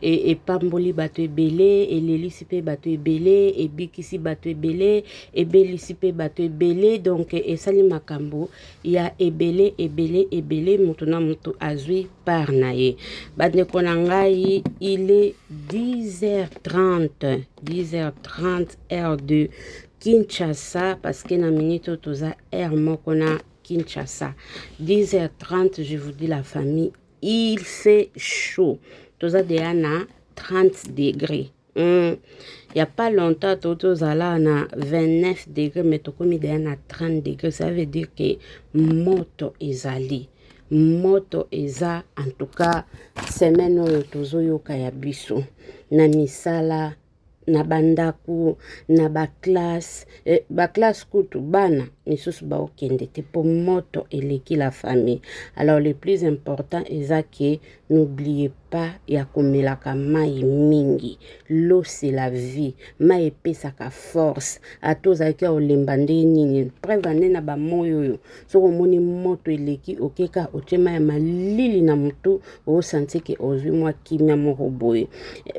e, epamboli bato ebele elelisi mpe bato ebele ebikisi bato ebele ebelisi mpe bato ebele donk esali makambo ya ebele ebele ebele moto na moto azwi par na ye bandeko na ngai ile 10h30 10h30 heure de kinshasa parce que na minute oyo toza heure moko na Kinshasa. 10h30, je vous dis la famille, il fait chaud toza deya na 30 degré mm. ya pas longtemps to tozala na 29 degré mais tokomi deya na 30 degré ça veut dire ke moto ezali moto eza en tout cas semaine oyo tozoyoka ya biso na misala na bandako na baklasse eh, baklasse kutu bana misusu baokende te mpo moto eleki la famille alors le plus important eza ke n'oubliez pas ya komelaka mai mingi l'eau c'est la vie mai epesaka force ata ozalaki ya olemba nde nini preuve ane na bamoi oyo soki omoni moto eleki oke kaka otye mai ya malili na motu osanti ke ozwi mwa kimia moko boye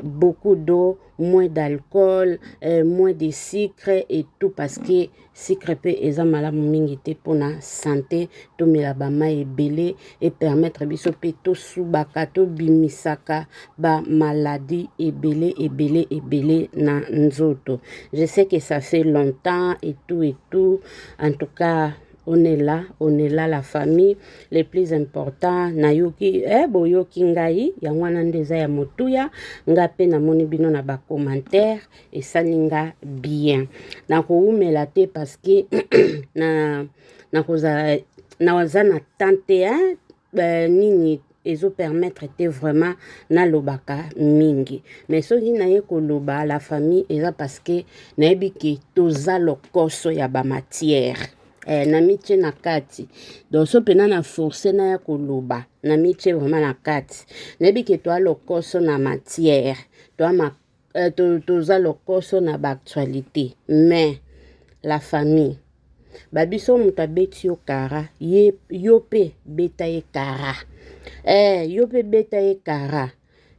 beaucoup d'eau moins d'alcool euh, moins de sucre et tout parce que sucre mpe eza malamu mingi te mpona sante tomela bamai ebele epermettre biso mpe tosubaka tobimisaka bamaladi ebele ebele ebele na nzoto je sais que ça fait longtemps et tout et tout En tout cas, on est là, on est là la famille, le plus important nayoki eh, boyoki ngai yango wana nde eza ya motuya nga mpe namoni bino na bacommentaire esali nga bien nakowumela te parce que na nakozala naza na tante hein? euh, nini ezo permettre te vraiment nalobaka mingi mais soki naye koloba la famille eza parce que nayebi ke toza lokoso ya bamatière eh, namitie na kati donc so mpena na force naya koloba namitie vraiment na kati nayebi ke toa lokoso na matière toa euh, to, toza lokoso na baactualité mais la famille babiso moto abeti yo kara ye yo mpe beta ye kara eh, yo mpe beta ye kara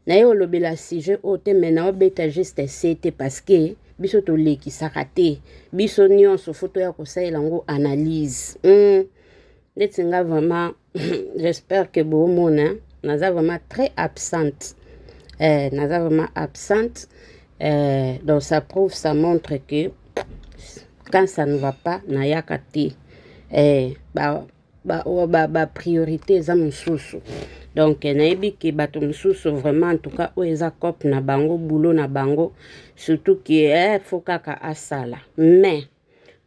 naye olobela sujet oyo te mai na obeta juste se te parce que biso tolekisaka te biso nyonso fo toya kosalela yango analyse mm. ndeti nga vraiment j'espère que bomona naza vraiment très absente eh, naza vraiment absente eh, donc ça prouve ça montre que quand ça ne va pas nayaka te eh, ba, ba, oh, ba, ba priorité eza mosusu donc nayebi ke bato mosusu vraiment en tout cas oyo eza cope na bango boulot na bango surtout ke eh, fo kaka asala mais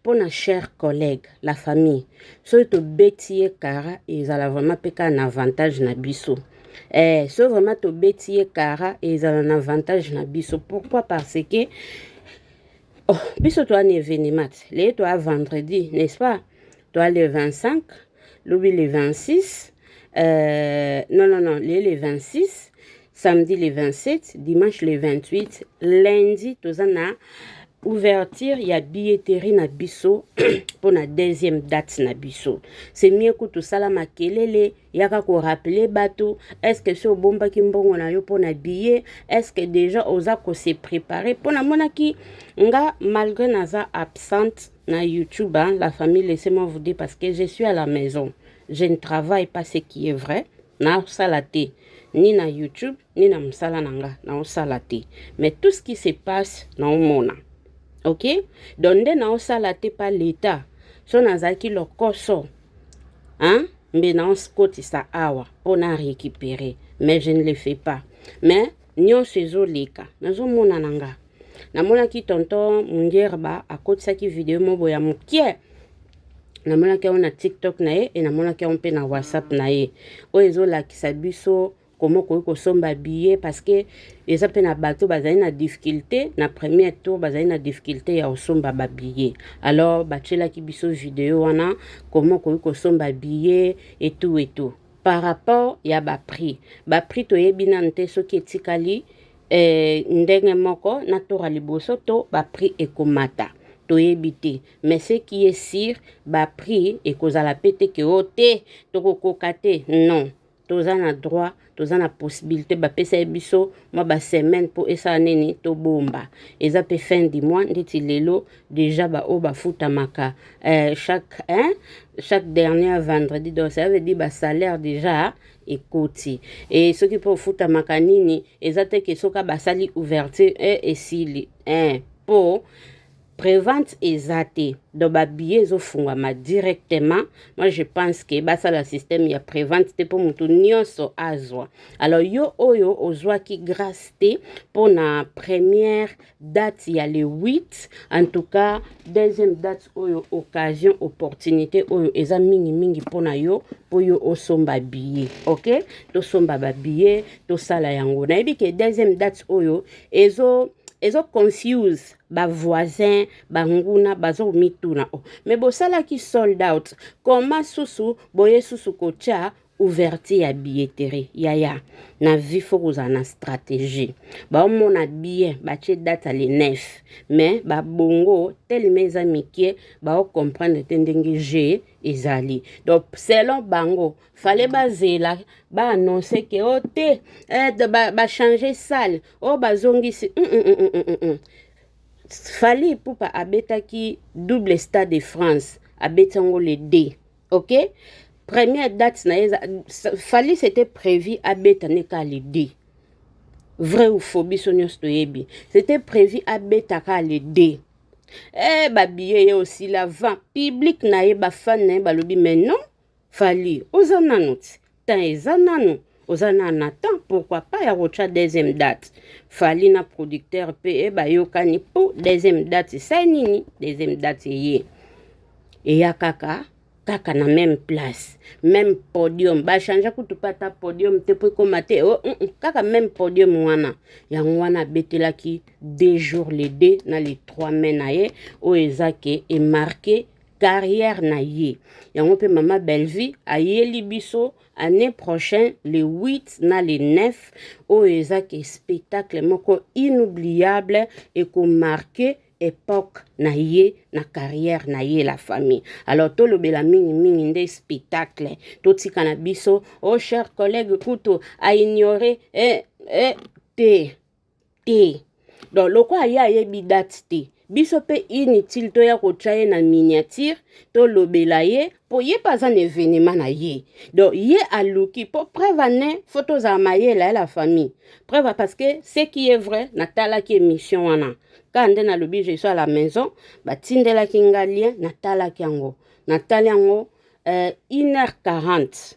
mpo na cher collègue la famille soki tobeti ye kara ezala vraiment mpe kaka na avantage na biso eh, soki vraiment tobeti ye kara ezala na avantage na biso pourquoi parce que oh, biso toa na événement te leye toa vendredi n'est-ce pas toa le 25 lobi le 26 euh, non non non leye le 26 samedi le 27 dimanche le 28 lundi toza na ouverture ya billetterie na biso mpo na deuxième date na biso c'est mieux kutu sala makelele yaka korappele bato estce so obombaki mbongo na yo mpo na billet estce déjà oza kose prépare mpo namonaki nga malgré naza absente na youtube hein, la famille laissez moi vous dire parce que je suis à la maison je ne travaille pas ce qui est vrai nasala te ni na YouTube, ni na mosala na nga naosala te mais tout ce qui se passe naomona ok donc nde naosala te pa leta so nazalaki lokoso hein? mbe naokotisa awa mpo na récupérer mais je ne le fais pas mais nyonso ezoleka nazomona na nga namonaki tonton mungerba akotisaki video mobo ya mokie namonaki yango na tiktok na ye e namonaki yango mpe na whatsapp na ye oyo ezolakisa biso koma okoki kosomba billet parce que eza mpe na bato bazali na difficulté na premier tour bazali na difficulté ya kosomba babillet alors batyelaki biso video wana koma okoki kosomba billet etou etou par rapport ya baprix baprix toyebi nanu te soki etikali eh, ndenge moko na tour ya liboso to baprix ekomata toyebi te mais ce qui est sur ba prix ekozala pe te ke o oh, te tokokoka te non toza na droit toza na possibilité bapesa ye biso mwa basemaine mpo esala nini tobomba eza mpe fin du mois ndeti lelo déjà baoyo bafutamaka eh, chaque, hein, chaque dernière vendredi donc ça veut dire basalaire déjà ekoti e soki mpo ofutamaka nini eza te ke soki basali ouverture e eh, esili eh, mpo Prevente eza te donc ba billets ezofungwama directement moi je pense que basala système ya prevente te mpo moto nyonso azwa alors yo oyo ozwaki grâce te mpo na première date ya le 8 en tout cas deuxième date oyo occasion opportunité oyo eza mingimingi mpo na yo mpo yo osomba billet ok tosomba babillet tosala yango nayebi ke deuxième date oyo ezo ezo confuse ba voisin ba nguna bazo mituna oh. mais bosalaki sold out koma susu boye susu kotia ouverture ya billetterie yaya na vie fo kozala na stratégie baomona bien batie date ya le 9 mais babongo telema eza mike baocomprendre te ndenge je ezali donc selon bango fale bazela ba annonce ke o oh, te eh, bachange ba sale o oh, bazongisi mm, mm, mm, mm, mm. mm. fali pupa abetaki double stade de france abeti yango le d ok première date na ye fali c'était prévu abeta ne ka le d vrai ou faux biso nyonso toyebi c'était prévu abeta ka le d eh babiye ye osila vent public na ye bafane na ye balobi mais non Fally oza nanu ti temps eza nanu oza na na temps pourquoi pas ya kotya deuxième date fali na producteur mpe eh, bayokani mpo deuxième date esai nini deuxième date eye eya kaka kaka na même place même podium bachange kutu mpe ata podium te mpo ekóma te oh, mm, mm, kaka même podium wana yango wana abetelaki deux jours le 2 na le 3 mai na ye oyo eza ke emarke carrière na ye yango mpe mama bellevue ayeli biso année prochaine le 8 na le 9 oyo eza ke spectacle moko inoubliable ekomarke époque na ye na carrière na ye la famille alors tolobela mingimingi nde spectacle totika na biso o oh, cher collègue kutu aignore eh, eh, te te donc lokola ye ayebi date te biso mpe inutile toya kotya ye na miniature tolobela ye mpo ye mpe aza na evenema na ye donc ye aluki mpo preuve ane fo tozala mayele ya la famille preuve parce que ce qui est vrai natalaki émission wana kaka nde nalobi je suis à la maison batindelaki nga lien natalaki yango natali yango euh, 1h40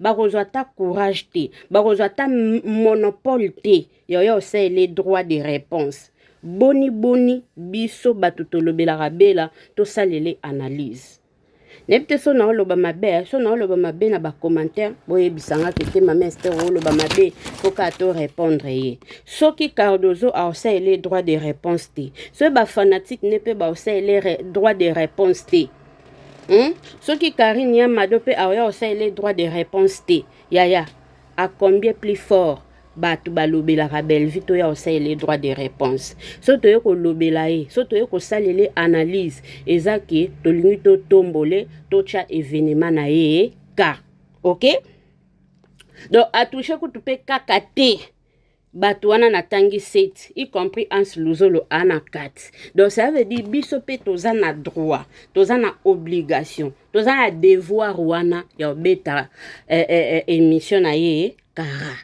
bakozwa ata courage te bakozwa ata monopole te yoyo osaleli droit de réponse boni boni biso bato tolobelaka bela tosalele analyse nayebi te so naoloba mabe eh, so naoloba mabe na bacommentaire boyebisa nga ke te mama ester oloba mabe poka to répondre ye soki cardozo aosalele droit de réponse te soki bafanatique ne mpe baosalele droit de réponse te Hum? Soki Karine ya Mado pe aoya osalela droit de réponse te. Yaya, à combien plus fort bato balobelaka Bellevue toya osalela droit de réponse. So toye kolobela ye, so toye kosalela analyse eza ke tolingi totombole totya evenema na ye ka. Okay? Donc atouche kutu pe kaka te. bato wana natangi seti y compris ans luzolo a na kati donc ça veut dire biso mpe toza na droit toza na obligation toza na devoir wana ya kobeta eh, eh, eh, émission na ye kara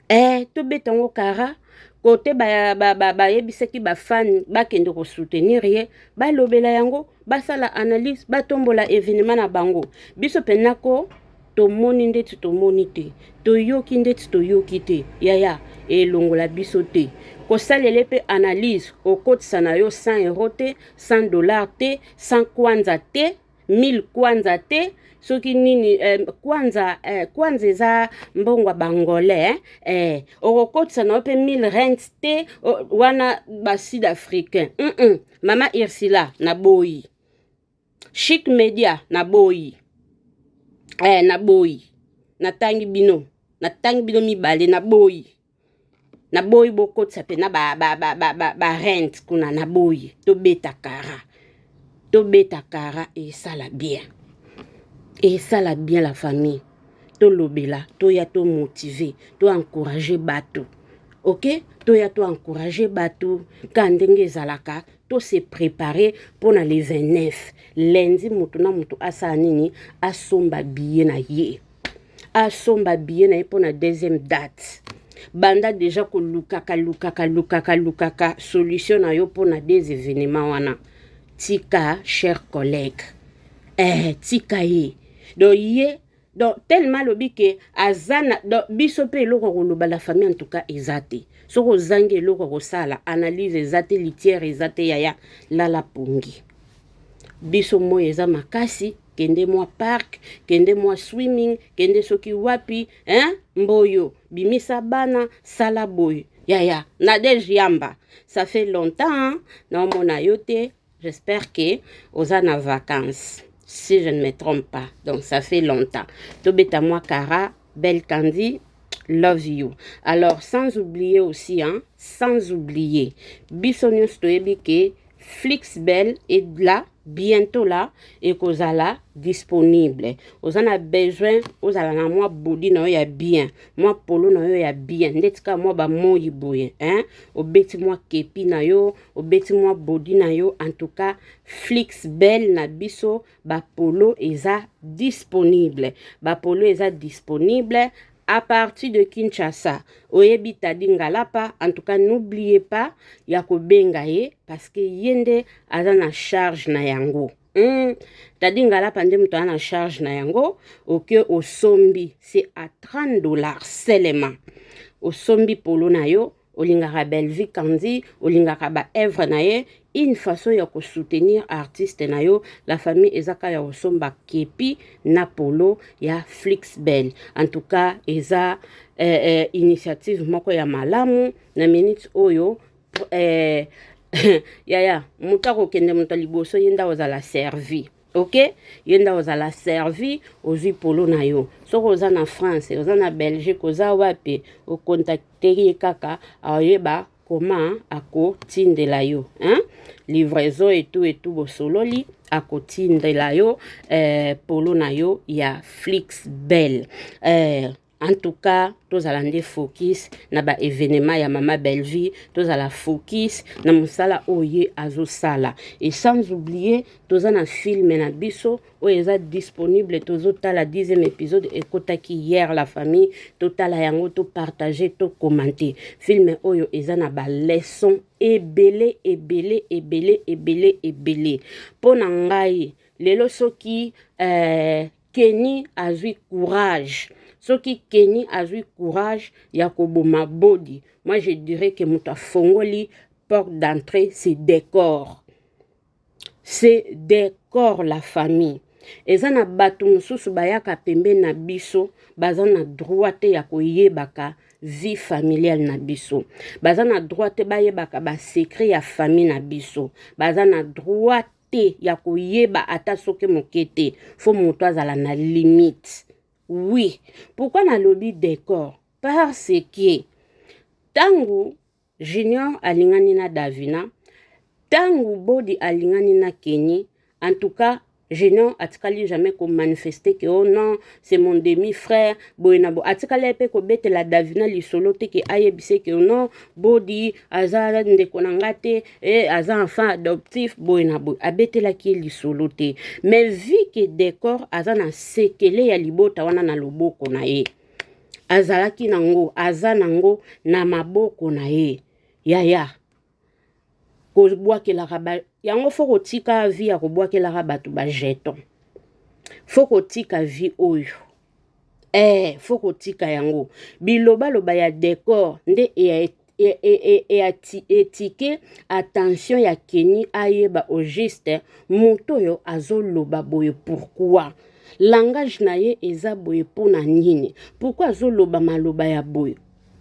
eh, tobeta yango kara kote bayebisaki ba, ba, ba bafani bakende kosoutenir ye balobela yango basala analyse batombola evenema na bango biso mpenza ko tomoni ndeti tomoni te toyoki ndeti toyoki te yaya elongola biso te kosalele mpe analyse okotisa na yo 100 euro te 100 dollar te 100 kwanza te 1000 kwanza te soki nini eh, kwanza eh, kwanza eza mbongo ya bangolais eh, eh, okokotisa na yo mpe 1000 rent te o, wana basud africain mm -mm. Mama Ursula na boyi. Chic Media na boyi. Eh na boyi. Natangi bino. Natangi bino mibale na boyi. Na boyi bokotisa pena ba ba ba ba ba, ba rent kuna na boyi. Tobeta kara. Tobeta kara esala bien. Esala bien la famille. tolobela toya to motive to encourage bato ok toya to encourage bato ka ndenge ezalaka to se prépare mpo na le 29 lundi moto na moto asala nini asomba biye na ye asomba biye na ye mpo na deuxième date banda deja kolukaka lukaka lukaka lukaka solution na yo mpo na des événements wana tika cher collègue eh, tika ye donc ye donc tellement alobi ke aza na donc biso mpe eloko ya koloba la famille en tout cas eza te soki ozangi eloko ya kosala analyse eza te litiere eza te yaya lala pongi biso moi eza makasi kende mwa park kende mwa swimming kende soki wapi hein? mboyo bimisa bana sala boye yaya nadege yamba ça fait longtemps naomona yo te J'espère que oza na vacances si je ne me trompe pas donc ça fait longtemps tobeta mwa kara belle candy love you alors sans oublier aussi hein, sans oublier biso nyonso toyebi ke flix belle est là bientôt là ekozala disponible oza na besoin ozala na mwa bodi na yo ya bien mwa polo na yo ya bien ndeti kaka mwa bamoi boye hein? obeti mwa kepi na yo obeti mwa body na yo en tout cas flix belle na biso bapolo eza disponible bapolo eza disponible à partir de Kinshasa oyebi Tadi Ngalapa en tout cas n'oubliez pas ya kobenga ye parce que ye nde aza na charge na yango mm. Tadi Ngalapa nde moto aza na charge na yango oke osombi c'est à 30 dollars seulement osombi polo na yo olingaka Bellevue Kandy olingaka ba œuvre na ye une façon ya ko soutenir artiste na yo la famille eza ka ya kosomba kepi na polo ya Flixbel en tout cas eza eh, eh, initiative moko ya malamu na minute oyo eh, yaya moto akokende moto liboso ye nda ozala servie ok ye nda ozala servi ozwi polo na yo soki oza na france oza na belgique oza wapi okontakteki ye kaka aoyeba koma akotindela yo hein? livraison etu etu bosololi akotindela yo eh, polo na yo ya flix belle eh, En tout cas, tozala nde focus na ba événements ya mama Bellevue, tozala focus na musala oyo azosala. Et sans oublier, toza na film na biso oyo eza disponible, tozotala 10e épisode ekotaki hier la famille, totala yango, to partager, to commenter. Film oyo eza na ba leçons ebele ebele ebele ebele ebele. Mpo na ngai lelo soki euh, Kenny azui courage. Soki Kenny azui courage ya koboma body. Moi je dirais que moto afongoli porte d'entrée c'est décor. C'est décor la famille. eza na bato mosusu bayaka pembeni na biso baza na droit te ya koyebaka vie familiale na biso baza na droit te bayebaka basecret ya famille na biso baza na droit te ya koyeba ata soki moke te fo moto azala na limite oui pourkui nalobi decor parce que ntango junior alingani na davina ntango bodi alingani na keni en tout cas Génon atikali jamais ko manifester que oh non c'est mon demi frère boye na bo atikali pe ko betela Davina lisolo te que ayebise que oh non body aza ndeko na ngate e aza enfant adoptif boye na boye abetelaki ye lisolo te mais vu que decor aza na sekele ya libota wana na loboko na ye azalaki nango aza nango na maboko na ye yaya kobwakelaka ba yango fo kotika vi ya kobwakelaka bato bajeton fo kotika vi oyo eh faut kotika yango bilobaloba ya decor nde etike attention ya keni ayeba au juste moto oyo azoloba boye pourquoi langage na ye eza boye mpo na nini pourkui azoloba maloba ya boye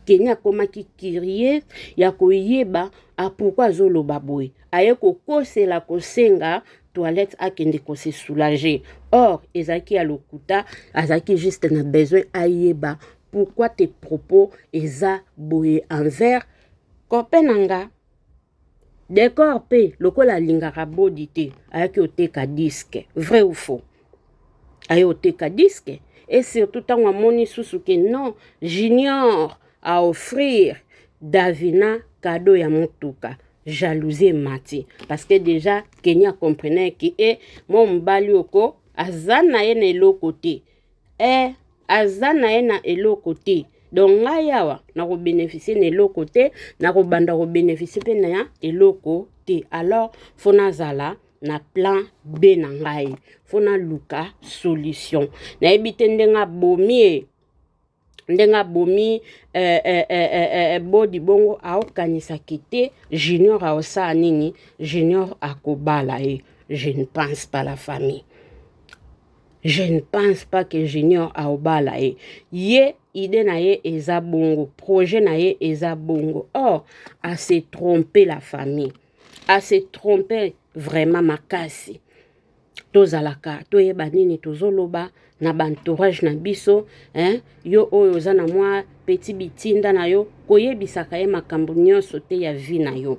keni akomaki kirie ya koyeba pourkui azoloba boye aye kokosela kosenga toilette akende ko se soulager or ezalaki ya lokuta azalaki juste na besoin ayeba pourquoi tes propos eza boye envers copain na nga decor mpe lokola alingaka bodi te ayaki oteka diske vrai ou faux aye oteka disque et surtout ntango amoni susu ke non junior a offrir davina kado ya motuka jalousie emati parce que déjà kenya comprenait ke e eh, mwa mobali oko aza na ye na eloko te e aza na ye na eloko te donc ngai awa nakobeneficie na eloko te nakobanda kobeneficie mpe na eloko te alors fo nazala na plan B na ngai fo naluka solution nayebi te ndenge abomi ye ndenge abomi eh, eh, eh, eh, eh, eh bodi bongo aokanisaki te junior aosala nini junior akobala ye je ne pense pas la famille je ne pense pas que junior aobala ye ye idée na ye eza bongo projet na ye eza bongo or oh, ase trompe la famille a se tromper vraiment makasi tozalaka toyeba nini tozoloba na baentourage na biso hein? yo oyo oza na mwa petit bitinda na yo koyebisaka ye makambo nyonso te ya vie na yo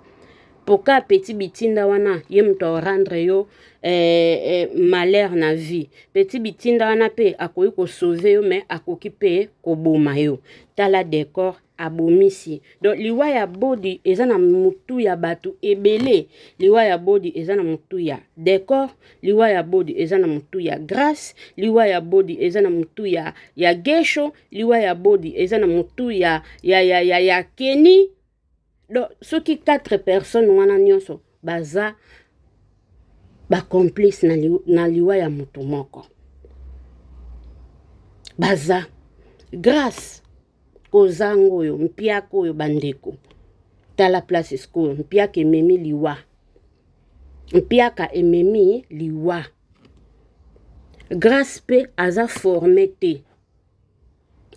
poka petit bitinda wana ye moto aorendre yo eh, eh, malheur na vie petit bitinda wana mpe akoki kosauve yo me akoki mpe koboma yo tala decor abomisi donc liwa ya bodi eza na mutu ya bato ebele liwa ya bodi eza na mutu ya decor liwa ya bodi eza na mutu ya grace liwa ya bodi eza na mutu ya, ya gesho liwa ya bodi eza na mutu ya, ya, ya, ya, ya keni donc soki quatre personnes wana nyonso baza bacomplice na, li, na liwa ya motu moko baza grace kozanga oyo mpiaka oyo bandeko tala place sikoyo mpiaka ememi liwa mpiaka ememi liwa grace mpe aza forme te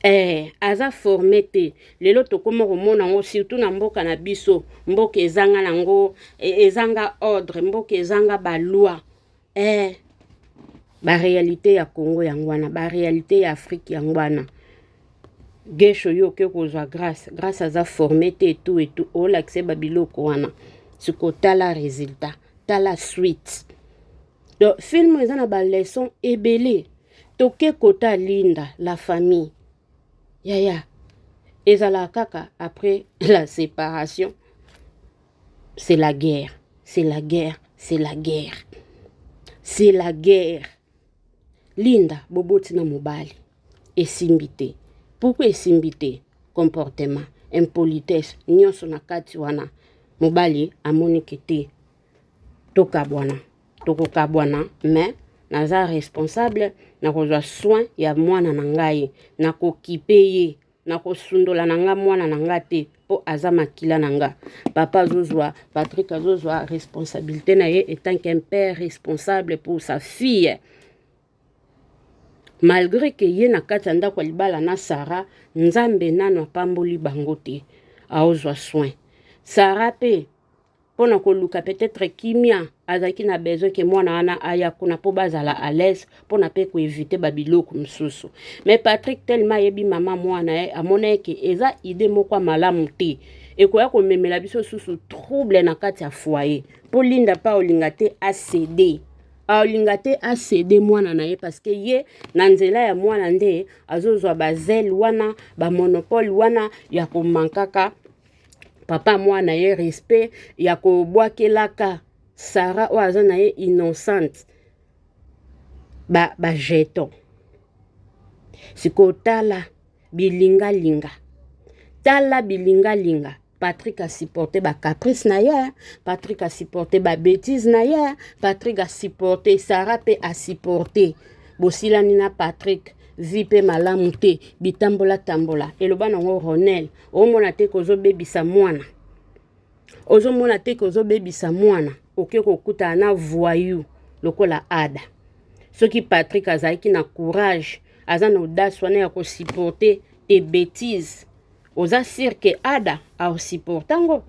eh, aza forme te lelo tokoma komona yango surtout na mboka na biso mboka ezanga nango e, ezanga ordre mboka ezanga baloi eh, barealité ya congo yango wana barealité ya afrique yango wana gesho yo oke kozwa grace grace aza forme te etu etu olakise babiloko wana siko tala résultat tala suite donc film eza na baleson ebele toke kota linda la famille yaya ezalaka kaka après la séparation c'est la guerre c'est la guerre c'est la guerre c'est la guerre linda boboti na mobali esimbi te pourkui esimbi te comportement impolitesse nyonso na kati wana mobali amonike te tokabwana tokokabwana mais naza responsable nakozwa soin ya mwana na ngai nakokipe ye nakosundola na nga mwana na nga te mpo aza makila na nga papa azozwa patrik azozwa responsabilité na ye etant qu'un père responsable pour sa fille malgré ke ye na kati ya ndako ya libala na sara nzambe nano apamboli bango te aozwa soin sara mpe mpo na koluka peut-être kimia azalaki na besoin ke mwana wana aya kuna mpo bazala à l'aise mpo na mpe koevite babiloko mosusu mais patrick tellement ayebi mama mwana ye amona ye ke eza idée moko ya malamu te ekoya komemela biso susu trouble na kati ya foyer mpo linda mpe aolinga te acede aolinga te acede mwana na ye parce que ye na nzela ya mwana nde azozwa bazele wana bamonopole wana ya komankaka papa mwana ye respect ya kobwakelaka sara oyo aza na ye innocente ba, ba jeton sikoyo tala bilingalinga tala bilingalinga Patrick a supporté ba caprice na ye, Patrick a supporté ba bêtise na ye, Patrick a supporté Sarah pe a supporté. Bosilani na Patrick, vie pe malamu te, bitambola tambola. Eloba nango Ronel, omona te ke ozobebisa mwana ozomona te ke ozobebisa mwana oke kokutana na voyou lokola ada soki patrik azalaki na courage aza na audace wana ya kosupporte te betise oza sire ke ada aosupporte yango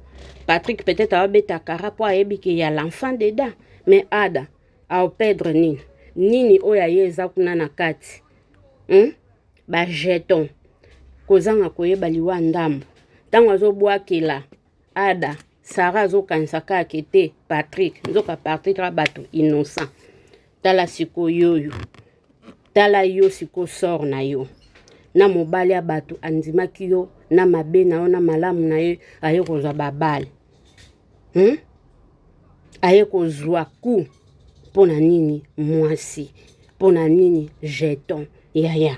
patrik peut-être aobeta kara mpo ayebi ke ya l'enfant deda mais ada aopedre nini nini oyo aye eza kuna na kati hmm? ba jeton kozanga koyeba liwa ndambo ntango azobwakela ada sara azokanisa kaka ete patrik nzoka patrik a bato innocent tala sikoyoyo tala yo siko sor na yo na mobali ya bato andimaki yo na mabe na yo na malamu na ye aye kozwa babale hmm? aye kozwa ku mpo na nini mwasi mpo na nini jeton yaya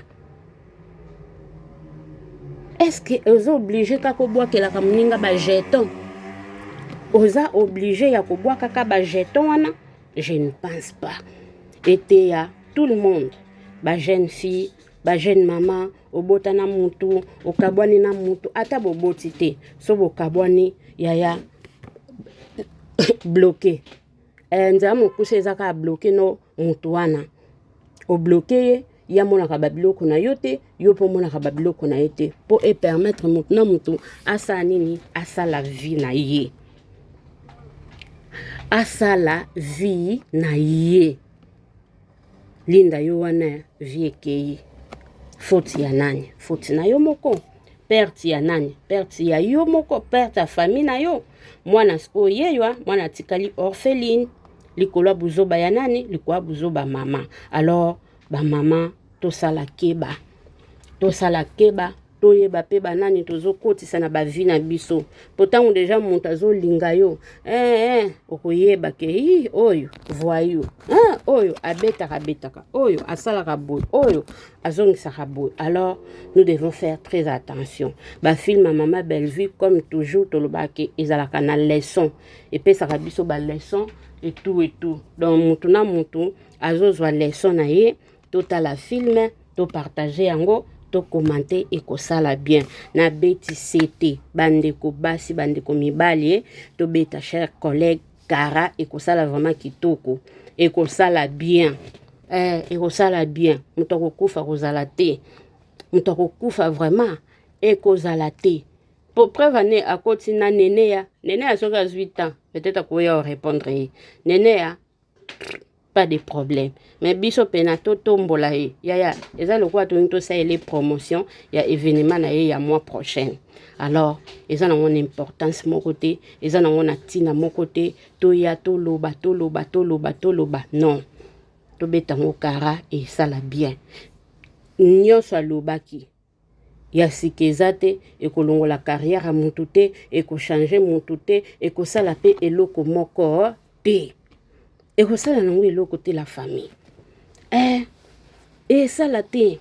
eske oza oblige kaka obwakelaka moninga bajeton oza oblige ya kobwakaka bajeton wana je ne pense pas eteya tout le monde bajeune fille ba jeune mama obota na mutu okabwani na mutu ata boboti te so bokabwani yaya bloke eh, nzela mokuse eza kaka bloke no mutu wana obloke ye ye amonaka babiloko na yo te yo mpo omonaka babiloko na ye te mpo epermettre motu na motu asala nini asala vie na ye asala vie na ye Linda yo wana vie ekeyi. Faute ya nani? Faute na yo moko. Perte ya nani? Perte ya yo moko, perte ya famille na yo. Mwana sikoyo yeywa, mwana atikali orpheline. Likolo ya buzoba ya nani? Likolo ya buzoba mama. Alors ba mama tosala keba. Tosala keba. toyeba pe banani tozokotisa na bavi na biso po ntango deja moto azolinga yo eh, eh, okoyeba ke i oyo voyu eh, oyo abetaka abetaka oyo asalaka boye oyo azongisaka boye alors nous devons faire très attention bafilme ya mama bellevue comme toujours tolobaki ezalaka na leçon epesaka biso baleçon etout etout donc motu na motu azozwa leçon na ye totala film to partage yango to commente ekosala bien na beti sete bandeko basi bandeko mibali eh, tobeta cher collègue kara ekosala vraiment kitoko ekosala bien eh, ekosala bien moto akokufa kozala te moto akokufa vraiment ekozala te po preuve ane akoti na neneya neneya soki azwi temps peut-être akoya orépondre ye neneya pas de problème mais biso pena totombola ye yaya eza lokola tolingi tosalela ye promotion ya événement na ye ya mois prochaine alors eza nango na importance moko te eza nango na ntina moko te toya toloba toloba toloba toloba non tobeta yango kara esala bien nyonso alobaki ya sika eza te ekolongola carrière ya mutu te ekochange mutu te ekosala pe eloko moko te ekosala nango eloko te la famille eh, esala te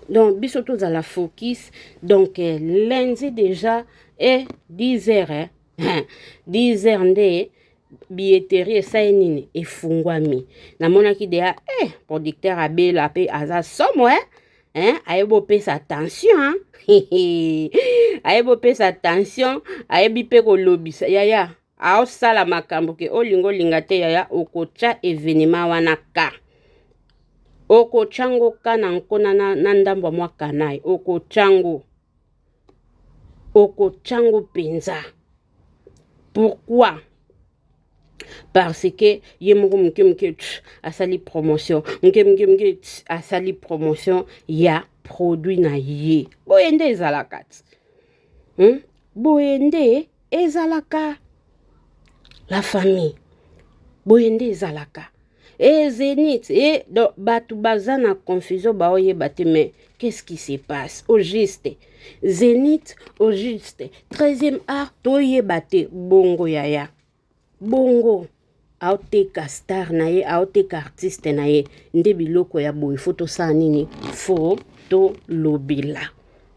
donc biso tozala focus donc eh, lundi déjà e eh, 10 heures eh, 10 heures nde billetterie esali nini efungwami namonaki deya eh, producteur abela mpe aza somo eh? hein? ayebi bopesa tension hein? ayebi bopesa tension ayebi mpe kolobisa yaya aosala makambo ke olinga olinga te yaya okotya evenema wana ka okotya ngo ka na nkona na, na ndambo ya mwa kanai okotya ngo okotya ngo mpenza pourquoi parce que ye moko moke moke asali promotion moke moke moke asali promotion ya produit na ye boye nde ezalaka ti hmm? boye nde ezalaka la famille boye nde ezalaka e zenith e donc bato baza na confusion baoyeba te mais qu'est-ce qui se passe au juste zenith au juste 13e art toyeba te bongo yaya bongo aoteka star na ye aoteka artiste na ye nde biloko ya boye fo tosala nini fo tolobela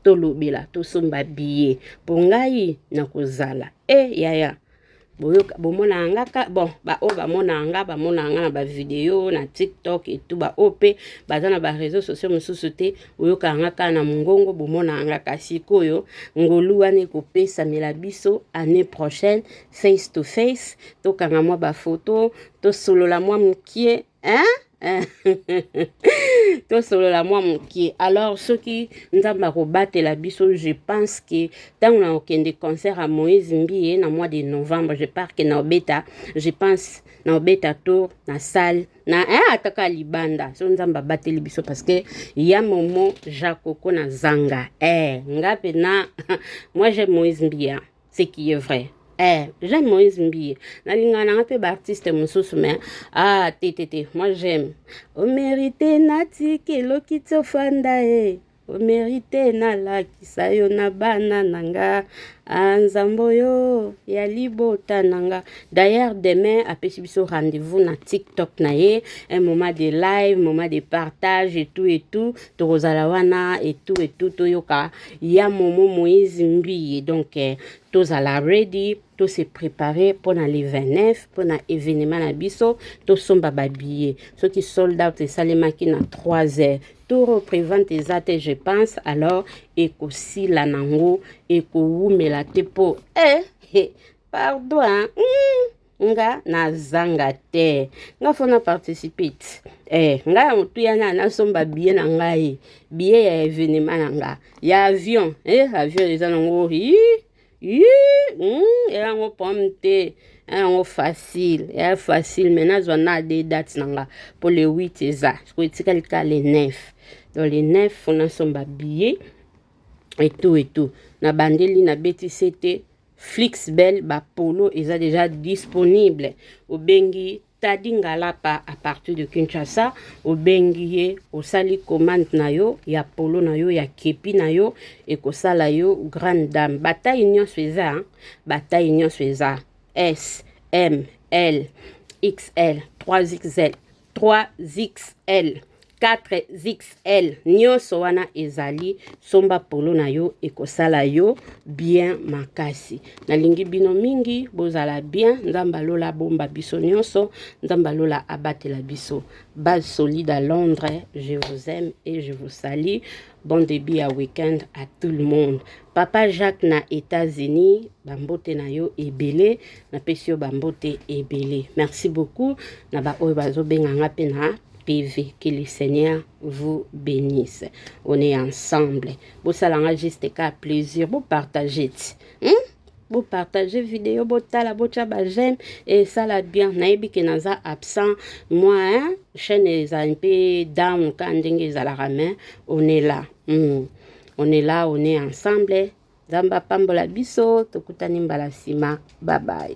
tolobela tosomba biye mpo ngai nakozala e eh, yaya boyoka bomonaka nga ka bon baoyo bamonaka nga bamonaka nga na bavideo na tiktok etu baoyo mpe baza na bareseau sociaux mosusu te oyokaka nga kaka na mongongo bomonaka nga ka sikoyo ngolu wana ekopesamela biso année prochaine face to face tokanga mwa bafoto tosolola mwa mokie hein? tosolola mwa moke alors soki nzambe akobatela biso je pense que ntango na okende concert ya moïse mbiye na mois de novembre je pars que na obeta je pense na obeta tour na salle na eh, ataka libanda so nzambe abateli biso parce que ya momo jakoko na zanga eh, nga mpe na moi je moïse mbiya ce qui est vrai Eh, j'aime Moïse Mbiye. Nalinga nanga pe ba artiste mususu mais ah te te te, moi j'aime. O mérité nati kelo kitso fanda eh. O mérité na lakisa yo na bana nanga. Ah nzambo yo ya libota nanga. D'ailleurs demain apesi biso rendez-vous na TikTok na ye, un moment de live, moment de partage et tout et tout. tokozala wana etu etu toyoka ya momo moïse mbiye donc eh, tozala ready to se préparer pour na le 29 pour na événement na biso tosomba babillet soki sold out esalemaki na 3 heures tour représente eza te je pense alors ekosila nango ekowumela te mpo eh, eh, pardon hein? mm. nga nazanga te nga fona participate eh, nga ya motuya na nasomba biye na ngai biye ya evenema na nga ya avion eh, avion eza nango hmm, eyango pomme te yango facile ya facile me nazwa na de date na nga mpo le 8 eza sikoyo etikali ka le 9 donc le 9 fona nsomba biye etu etu nabandeli nabeti sete Flix Bell ba polo eza deja disponible. Obengi Tadi Ngalapa à partir de Kinshasa, obengi ye, osali commande na yo ya polo na yo ya kepi na yo ekosala yo grande dame. Bataille nyonso eza, bataille nyonso eza. S, M, L, XL, 3XL. 3xl 4xl nyonso wana ezali somba polo na yo ekosala yo bien makasi nalingi bino mingi bozala bien nzambe alola abomba biso nyonso nzambe alola abatela biso base solide à londres je vous aime et je vous salue Bon début ya week-end à tout le monde. Papa Jacques na États-Unis, bambote na yo ebele, na pesi yo bambote ebele. Merci beaucoup na ba oyo bazo benga nga pe na PV. Que le Seigneur vous bénisse. On est ensemble. Bosalanga juste ka plaisir, bo partager. Hmm? bo partager video botala botya ba j'aime esala bien nayebi ke naza absent moi hein? chaîne eza mpe down ka ndenge ezalaka mais on est là mm. on est là on est ensemble nzambe apambola biso tokutani mbala nsima babaye